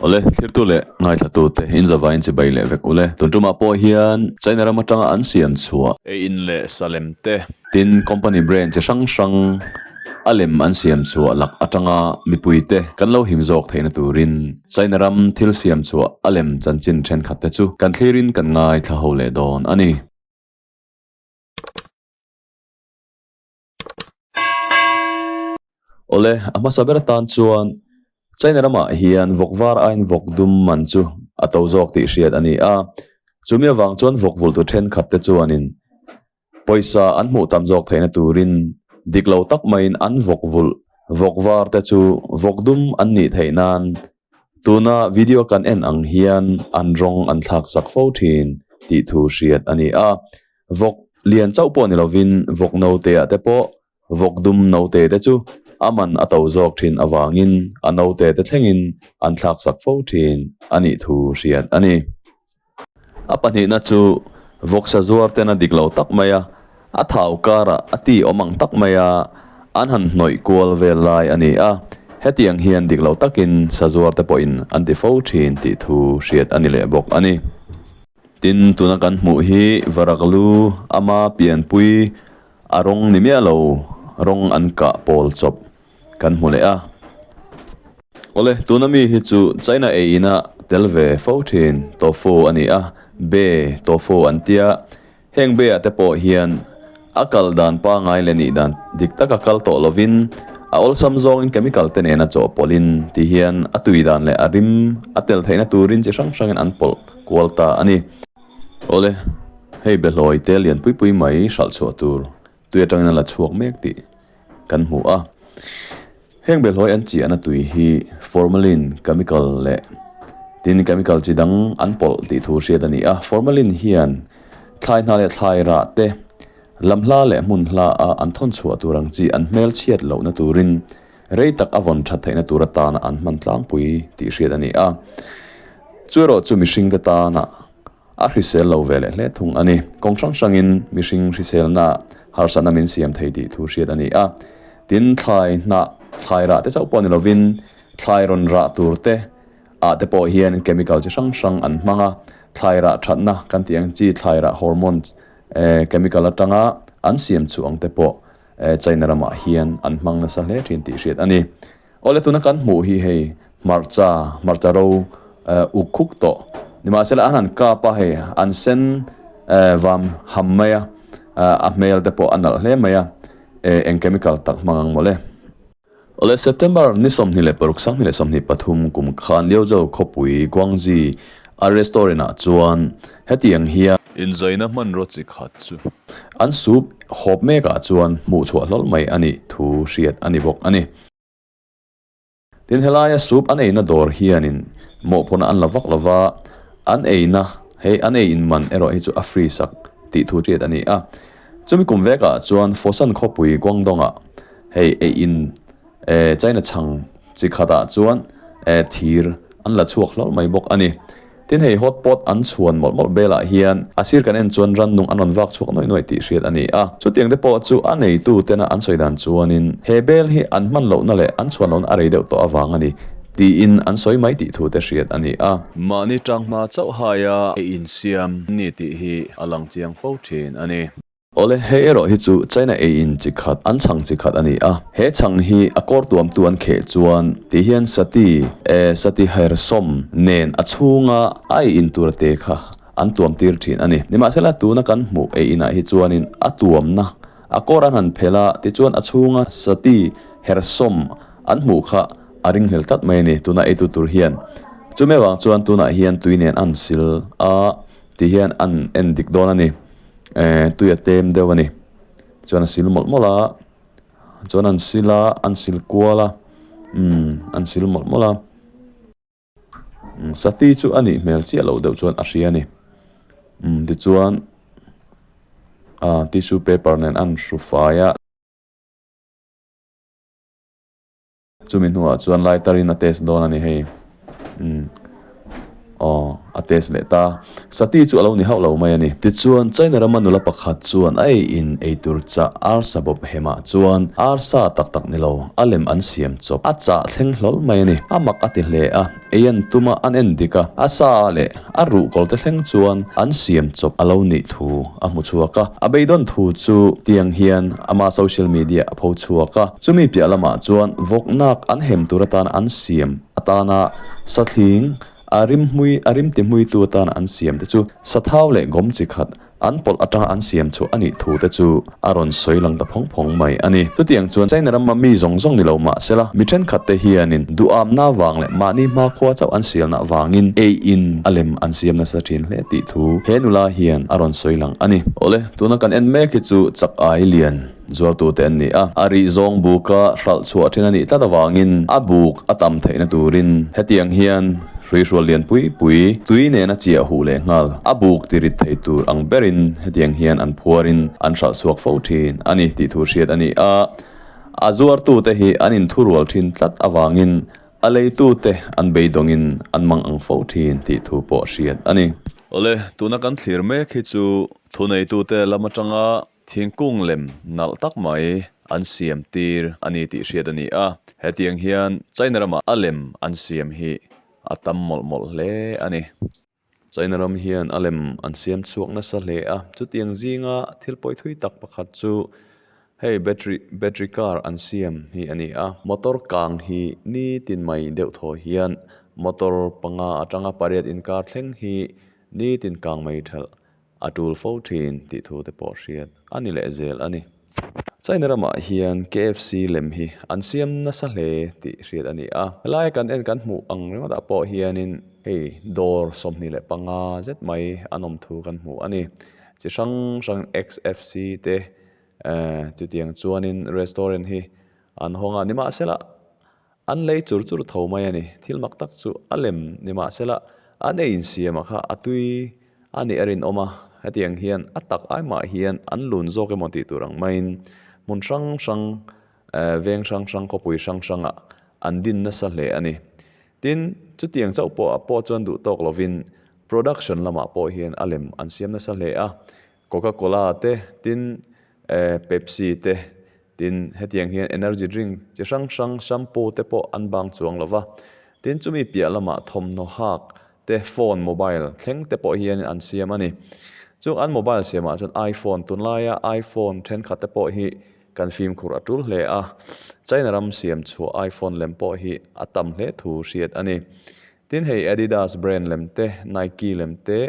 Awle, thlirtu leh ngaithlatu'te inzava inchibai leh vek ule. Tun tumah pawh hian China ram atanga an siam chhuah. Ei in leh sa lem te. Tin, company brand chi hrang hrang a lem an siam chhuah lak atanga mipuite kan lo him zawk theihna turin China ram thil siam chhuah a lem chanchin thenkhatte chu kan thlirin kan ngaithla ho leh dawn a ni. Awle, a hmasa ber atan chuan China ramah hian vawk var aiin vawk dum man chu a to zawk tih hriat a ni a. Chumi avang chuan vawk vultu thenkhat te chuanin pawisa an hmuh tam zawk theihna turin dik lo tak maiin an vawk vulh vawk var te chu vawk dum an nih theih nan Tuna video kan en ang hian an rawng an thlak sak fo thin tih thu hriat a ni a. Vawk lian chauh pawh ni lovin vawk naute ah te pawh vawk dum naute te chu a man a to zawk thin avangin a naute te thlengin an thlak sak fo thin a nih thu hriat a ni. A pahnihna chu vawksa zuar ten a dik lo tak mai a, a thau karah a ti awm ang tak mai a, an han hnawih kual vel lai a ni a, hetiang hian dik lo takin sazuar te pawhin an ti fo thin tih thu hriat a ni leh bawk a ni. Tin, tuna kan hmuh hi Varaklu ama pianpui a rawng ni miah lo, rawng an kah pawl chawp. kan hmu leh a. Awle, tuna mi hi chu China ei ina tel ve fo thin tofu a ni a, be tofu an tia, heng be ah te pawh hian a kal dan pangai leh nih dan dik taka kal tawh lovin a awlsam zawngin chemical te nena chawh pawlhin ti hian a tui dan leh a rim a tel theihna turin chi hrang hrangin an pawlh kual ta a ni. Awle, hei be hlawi te lian pui pui mai hralh chhuah tur Tui atangin a la chhuak mek tih kan hmu a. Heng belhawi an chiahna tui hi formalin chemical leh tin chemical chi dang an pawlh tih thu hriat a ni a. Formalin hian thlai hna leh thlai rah te, lam hla leh hmun hla a an thawn chhuah tur ang chi an hmelchhiat lohna turin rei tak a vawn that theihna tur atana an hman tlangpui tih hriat a ni a. Chu erawh chu mihringte tana A hrisel lo ve leh hle thung a ni. Kawng hrang hrangin mihring hriselnaah harsatna min siam thei tih thu hriat a ni a. Tin, thlai hnah, thlai rah te chauh pawh ni lovin, thlai rawn rah tur te ah te pawh hian chemical chi hrang hrang an hmang a. Thlai rah thatna kan tih ang chi thlai rah hormone chemical atanga an siam chuh ang te pawh China ramah hian an hmang nasa hle thin tih hriat a ni. Awle tuna kan hmuh hi hei hmarcha hmarcha ro eh uk khuk tawh ni mahse leh a han kap a hei an sen eh vam ham mai a eh a hmel te pawh a nalh hle mai a eh eng chemical tak hmang ang mawle. Awle September ni sawmhnih leh paruk sanghnih leh sawmhnih pathum kum khan Liaozhou khawpui Guangzhi. A restaurant ah chuan hetiang hian. Inzaina hmanraw chi khat chu. An sup hawp mek ah chuan hmuh chhuah hlawl mai a nih thu hriat a ni bawk a ni. Tin helaia sup an eina dawr hianin mawh pawnah an la vak lo va, an eina he an ei inman erawh hi chu a free sak tih thu hriat a ni a. Chumi kum vek ah chuan Fosan khawpui Guangdong ah hei eiin. eh, China chhang chi khatah chuan eh, thir an la chhuak hlawr mai bawk a ni. Tin, hei hot pot an chhuan mawlh mawlh belah hian a sir kan en chuan rannung an rawn vak chhuak nuai nuai tih hriat a ni a. Chutiang te pawh chu a neitutena an sawi dan chuanin he bel hi an hman lohna leh an chhuan lohna a rei deuh tawh avang a ni tiin an sawi mai tih thute hriat a ni a. Mahni tang hma chauh haia ei insiam a ni tih hi a lang chiang fo thin a ni. Awle, he erawh hi chu China ei in chi khat, an chhang chi khat a ni a. He chhang hi a kawr tuamtu an kheh chuan tih hian Sati, e, Satihairsom, nen a chhunga a ei in tur te kha an tuam tir thin a ni. Nimahsela tuna kan hmuh ei inah hi chuanin a tuamna, a kawr an han phelh a, tichuan a chhunga Sati, Hersom, an hmuh kha a ring hmel tlat mai a ni, tuna eitu tur hian. Chumi avang chuan tunah hian tui nen a han sil a tih hian a han en dik dawn a ni. ehh tui a tem deuh a ni chuan a sil mawlh mawlh a chuan an sil a an sil kual a umm an sil mawlh mawlh a sati chu a nih hmel chiah loh deuh chuan a hria a ni umm tichuan ahh tissue paper nen a han hru fai a. Chumi hnuah chuan lai tarin a test dawn a ni hei. Umm. Aw, a test leh ta. Sati chu a lo ni hauh lo mai a ni. Tichuan, China rama nula pakhat chuan a ei in ei tur chah arsa bawp hemah chuan arsa tak tak ni lo, a lem an siam chawp. A chah thleng hlawl mai a ni. A mak a ti hle a. Ei an tum a, an en dik a. A sa leh a ruh kawlte thleng chuan an siam chawp a lo nih thu a hmu chhuak a. A bei dawn thu chu tiang hian ama social media a pho chhuak a. Chumi piah lamah chuan vawknak an hem tur atana an siam atana sathling a rim hmui a rim ti hmuitu atana an siam te chu sathau leh gawm chi khat An pawlh atanga an siam chhuah a nih thu te chu a rawn sawi lang ta phawng phawng mai a ni. Chutiang chuan China ram a mi zawng zawng ni lo mah se la, mi thenkhat te hianin duhawmna avang leh mahni hma khua chauh an sialna avangin ei in a lem an siam nasa thin hle tih thu he nula hian a rawn sawi lang a ni. Awle, tuna kan en mek hi chu chak ai lian. zuartute an ni a, a rih zawng buka hralh chhuah thin a nih tlat avangin a buk a tam theihna turin hetiang hian hruihrual lian pui pui, tui nena chiah huh leh nghal, a buk ti rit thei tur ang berin hetiang hian an phuarin an hralh chhuak fo thin a ni tih thu hriat a ni a, a zuartute hi an inthurual thin tlat avangin a leitute an beidawngin an mang ang fo thin tih thu pawh hriat a ni. Awle, tuna kan thlir mek hi chu thuneitute lam atanga Thingkung lem nalh tak mai an siam tir a ni tih hriat a ni a, hetiang hian China ramah a lem an siam hi a tam mawlh mawlh hle a ni. China ram hian a lem an siam chhuak nasa hle a, chutiang zinga thil pawi thui tak pakhat chu hei battery, battery car an siam hi a ni a. Motor kang hi nitin mai deuh thaw hian motor panga atanga pariat inkar thleng hi nitin kang mai ṭhalh A tul fo thin tih thu te pawh hriat a ni leh zel a ni. China ramah hian KFC lem hi an siam nasa hle tih hriat a ni a. Helaia kan en kan hmuh ang ringawtah pawh hianin hei dawr sawmhnih leh panga zet mai an awm thu kan hmu a ni. Chi hrang hrang XFC te chutiang chuanin restaurant hi an hawng a, nimahsela An lei chur chur tho mai a ni. Thil mak tak chu a lem ni mah se la, a nei insiam ah kha a tui a nih a rinawm a, hetiang hian a tak ai mah hian an lun zawk emaw tih tur ang maiin hmun hrang hrang, veng hrang hrang, khawpui hrang hrang ah an din nasa hle a ni. Tin, chutiang chauh pawh ah pawh chuan duh tawk lovin production lamah pawh hian a lem an siam nasa hle a. Coca Cola te tin eh Pepsi te tin hetiang hian energy drink chi hrang hrang shampoo te pawh an bang chuang lo va, tin chumi piah lamah thawmhnaw hak te phone mobile thleng te pawh hian an siam a ni. Chung an mobile siamah chuan iPhone tun laia iPhone thenkhat te pawh hi kan fimkhur a tul hle a, China ram siam chhuah iPhone lem pawh hi a tam hle thu hriat a ni. Tin hei Adidas brand lem te Nike lem te,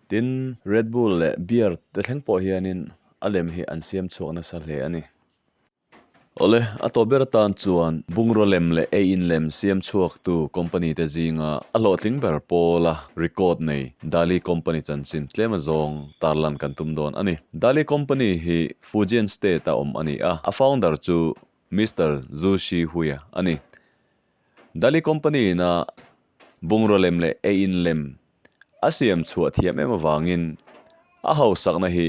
Tin, Red Bull leh Beer te thleng pawh hianin a lem hi an siam chhuak nasa hle a ni. Awle, a tawh ber atan chuan bungraw lem leh eiin lem siam chhuaktu company te zinga a hlawhtling ber pawla record nei Dali Company chanchin tlema zawng tarlan kan tum dawn a ni. Dali Company hi Fujian State-a awm a ni a, a founder chu Mister Zhu Shihuya a ni. Dali company in a bungraw lem leh ei in lem a siam chhuah thiam em avangin a hausakna hi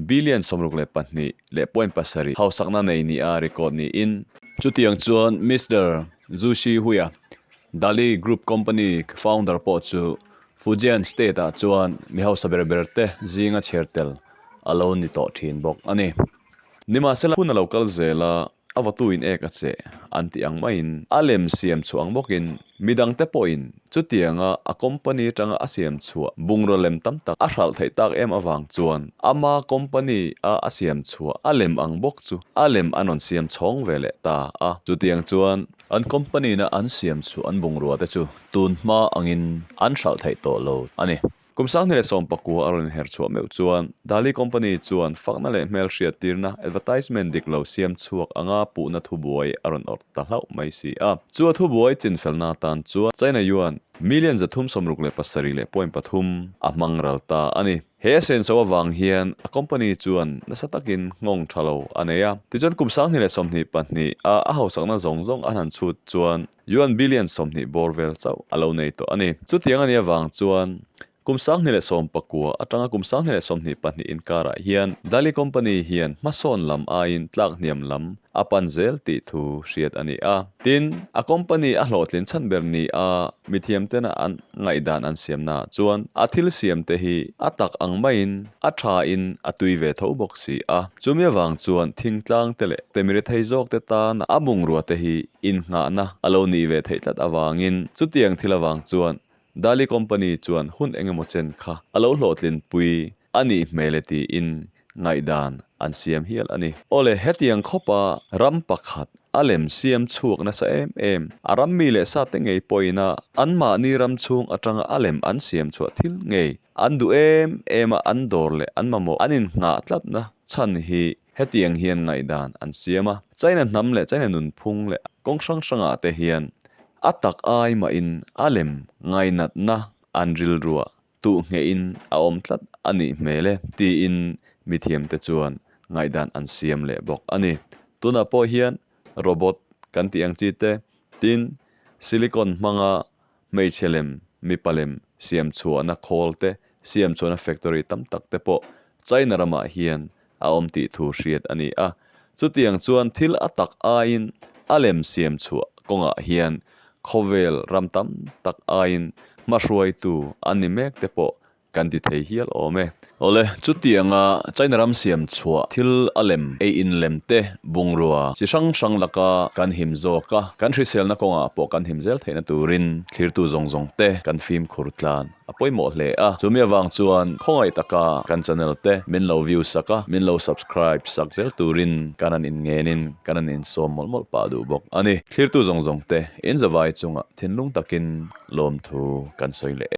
billion sawmruk leh pahnih leh point pasarih hausakna nei ni a record niin. Chutiang chuan Mister Zhu Shihuia, Dali Group company founder pawh chu Fujian state ah chuan mi hausa ber ber te zinga chhiar tel a lo ni tawh thin bawk a ni. Nimahsela hun a lo kal zel a. a vatu in ek a che an tih ang maiin a lem siam chhuah ang bawkin midang te pawhin chutianga a company atanga a siam chhuah bungraw lem tam tak a hralh theih tak em avang chuan ama company a a siam chhuah a lem ang bawk chu a lem an rawn siam chhawng ve leh ta a, chutiang chuan an company-na an siam chhuah an bungrua te chu tun hma angin an hralh theih tawh lo a ni. Kum sang ni leh sawmpakua a rawn inher chhuah meuh chuan Dali Company chuan fakna leh hmelhriat tirna, advertisement, dik lo siam chhuak anga puhna thubuai a rawn awrh ta hlauh mai si a. Chu a thubuai chinfelna atan chuan China Yuan million za thum sawmruk leh pasarih leh point pathum a hmang ral ta a ni. He a sen so avang hian a company chuan nasa takin nghawng tha lo a nei a. Tichuan kum sang ni leh sawmhnih pahnih a a hausakna zawng zawng a hlan chhut chuan Yuan billion sawmhnih bawr vel chauh a lo nei tawh a ni. Chutiang a nih avang chuan kum sanghnih leh sawm pakua atanga kum sanghnih leh sawmhnih pahnih inkarah hian Dali company hian hmasawn lam aiin tlak hniam lam a pan zel tih thu hriat a ni a. Tin, a company a hlawhtlin chhan ber ni a mithiamtena an ngaihdan an siamnaah chuan a thil siamte hi a tak ang maiin A tha in a tui ve tho bawk si a. Chumi avang chuan thingtlang te leh temire thei zawk te tan a bungrua te hi innghahna a lo nih ve theih tlat avangin chutiang thil avang chuan Dali Company chuan hun eng emaw chen kha a lo hlawhtlin pui a nih hmel e tiin ngaihdan an siam hial a ni. Awle hetiang khawpa ram pakhat a lem siam chhuak nasa em em a ram mi leh sa te ngei pawhin a anmahni ram chhung atanga a lem an siam chhuah thil ngei An duh em em a, an dawr leh an mamawh an inhnghah tlatna chhan hi hetiang hian ngaihdan an siam a, China hnam leh China nunphung leh kawng hrang hrangah te hian a tak ai mahin a lem ngainatna an rilrua tuh nghehin a awm tlat a nih hmel e tiin mithiamte chuan ngaihdan an siam leh bawk a ni. Tunah pawh hian robot kan tih ang chi te tin silicon hmanga Hmeichhe lem mipa lem siamchhuahna khawl te, siamchhuahna factory tam tak te pawh China ramah hian a awm tih thu hriat a ni a. Chutiang chuan thil a tak aiin a lem siamchhuah kawngah hian khawvel ram tam tak aiin hmahruaitu an ni mek te pawh Kan ti thei hial awm e. Awle, chutianga China ram siam chhuah thil a lem ei in lem te, bungrua chi hrang hrang laka kan him zawk a, kan hriselna kawngah pawh kan him zel theihna turin thlirtu zawng zawng te kan fimkhur tlan a pawimawh hle a. Chumi avang chuan khawngaih taka kan channel te min lo view sak a, min lo subscribe sak zel turin kan han in ngen in kan han in sawm mawlh mawlh pah duh bawk a ni. Thlirtu zawng zawng te in zavai chungah thinlung takin lawmthu kan sawi leh e.